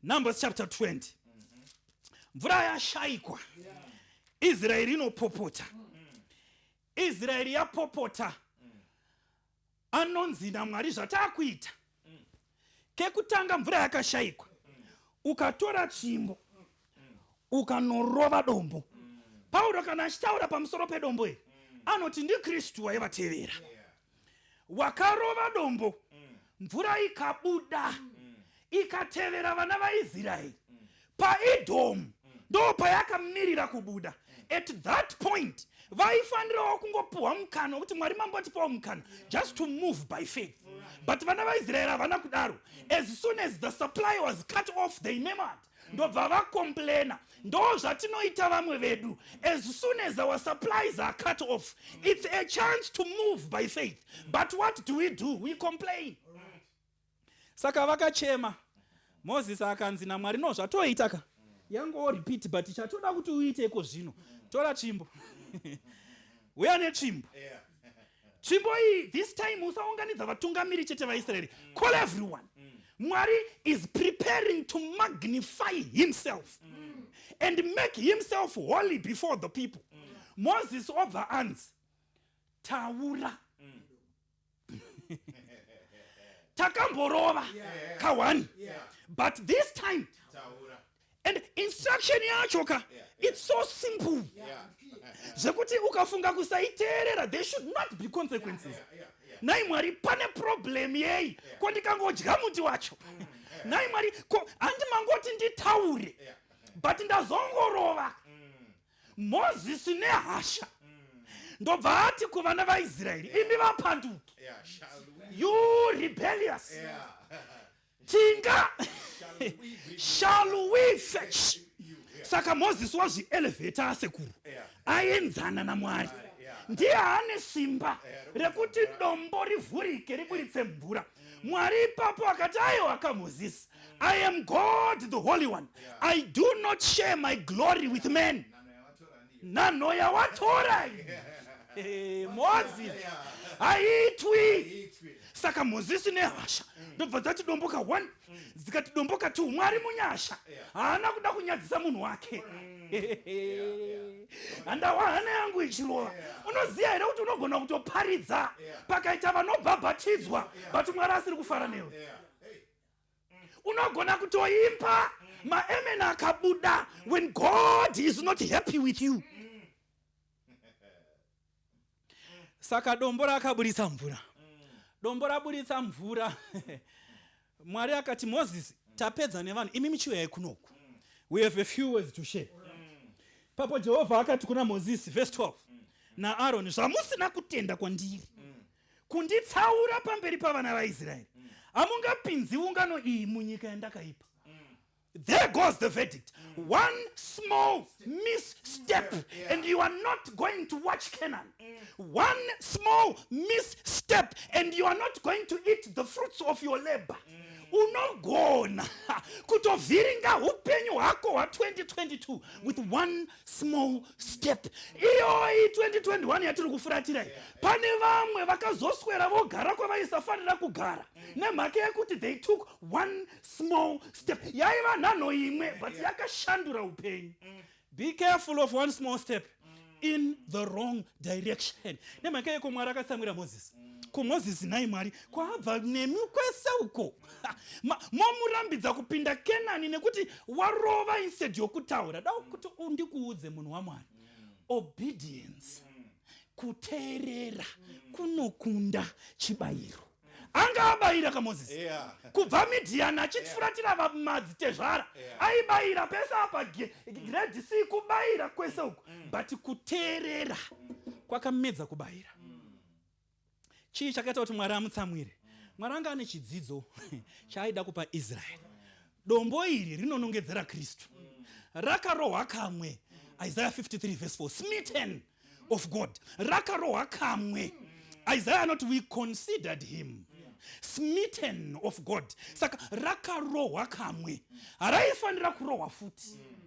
Numbers chapter 20 mvura yashaikwa israeri inopopota israeri yapopota anonzi namwari zvataakuita kekutanga mvura yakashaikwa ukatora tsvimbo ukanorova dombo pauro kana achitaura pamusoro pedombo iri anoti ndikristu waivatevera wakarova dombo mm. mvura ikabuda mm. ikatevera vana vaisraeri mm. paidomu mm. ndo payakamirira kubuda mm. at that point vaifanirawo kungopiwa mukana wekuti mwari mambotipawo mukana just to move by faith but vana vaisraeri havana kudaro as soon as the supply was cut off they memored ndobva vacomplaina ndo zvatinoita vamwe vedu as soon as our supplies are cut off it's a chance to move by faith but what do we do we complain saka vakachema moses akanzi namwari no zvatoita ka yangowo repeat but chatoda kuti uite iko zvino tora tsvimbo uya netsvimbo tsvimbo iyi this time usaunganidza vatungamiri chete vaisraeri call everyone mwari is preparing to magnify himself and make himself holy before the people moses obva anzi taura takamborova kahwani but this time and instruction yacho ka yeah, yeah. it's so simple zvekuti yeah. ukafunga kusaiteerera there should not be consequences yeah, yeah, yeah, yeah. nai mwari pane problem yei yeah. ko ndikangodya muti wacho mm, yeah. nai mwari ko handi mangoti nditaure yeah. but ndazongorova mm. mozisi nehasha mm. ndobva ati kuvana vaisraeri yeah. imi vapanduki yeah, you rebellious yeah. tinga shall we fetch saka mozisi wazvielevheta asekuru aenzana namwari ndiye ane simba rekuti dombo rivhurike riburitse mvura mwari ipapo akati aiwa kamozisi i am god the holy one i do not share my glory with men nhanho yawatora eh, mozisi haitwi saka mozisi nehasha ndobva dzatidomboka one dzikatidomboka two mwari munyasha haana kuda kunyadzisa munhu wake handawa hana yangu ichirova unoziva here kuti unogona kutoparidza pakaita vanobhabhatidzwa but mwari asiri kufara newe unogona kutoimba maamen akabuda when god is not happy with you saka dombo rakaburitsa mvura dombo raburitsa mvura mwari akati moses tapedza nevanhu imi michiuyai kunoku we have a few words to share papo jehovha akati kuna moses verse 12 naaroni zvamusina kutenda kwandiri kunditsaura pamberi pavana vaisraeri mm. hamungapinzi mm. ungano iyi munyika yandakaipa mm. there goes the verdict mm. one small misstep yeah, yeah. and you are not going to watch canaan mm. one small misstep and you are not going to eat the fruits of your labor mm. unogona kutovhiringa upenyu hwako hwa 2022 mm. with one small step iyoyi 2021 yatiri kufuratira iyi pane vamwe vakazoswera vogara kwavaisafanira kugara nemhaka yekuti they took one small step yaiva nhanho imwe but yakashandura upenyu be careful of one small step in the wrong direction nemhaka yeko mwari akatsamwira moses kumoses nhai mwari kwaabva nemi kwese uko momurambidza kupinda kenani nekuti warova instead yokutaura da kuti undikuudze munhu wamwari mm. obedience mm. kuteerera mm. kunokunda chibayiro anga abayira kamozisi yeah. kubva midhiyani achitifuratira yeah. vamadzitezvara yeah. aibayira pese apa grade c kubayira kwese uku mm. but kuteerera mm. kwakamedza kubayira mm. chii chakaita kuti mwari amutsamwire mwari anga ane chidzidzo chaaida kupa israeri dombo iri rinonongedzera kristu rakarohwa kamwe isaiah 53 vs 4 smitten of god rakarohwa kamwe isaiah anoti we considered him smitten of god saka rakarohwa kamwe haraifanira kurohwa futi mm.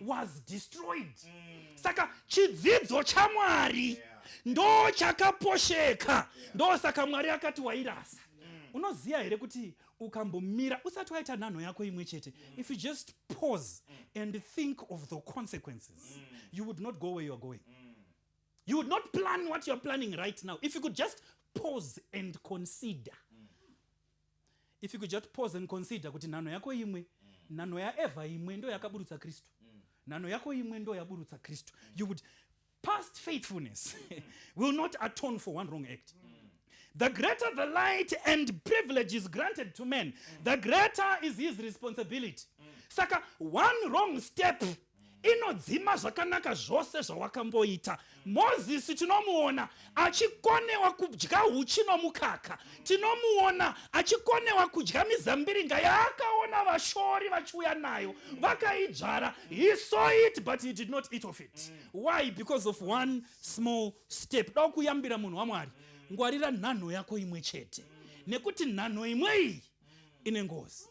mm. was destroyed mm. saka chidzidzo chamwari yeah. ndo chakaposheka yeah. ndo saka mwari akati wairasa mm. unoziva here kuti ukambomira usati waita nhanho yako imwe chete mm. if you just pause mm. and think of the consequences mm. you would not go where youare going mm. you would not plan what youare planning right now if you could just pause and consider if you could just pause and consider kuti nhanho yako imwe nhanho yaevha imwe ndo yakaburutsa kristu nhanho yako imwe ndo yaburutsa kristu you would past faithfulness will not atone for one wrong act the greater the light and privilege is granted to man the greater is his responsibility saka one wrong step inodzima zvakanaka zvose zvawakamboita mozisi tinomuona achikonewa kudya uchi nomukaka tinomuona achikonewa kudya mizambiringa yaakaona vashori vachiuya nayo vakaidzvara he saw it but he did not eat of it why because of one small step da kuyambira munhu wamwari ngwarira nhanho yako imwe chete nekuti nhanho imwe iyi ine ngozi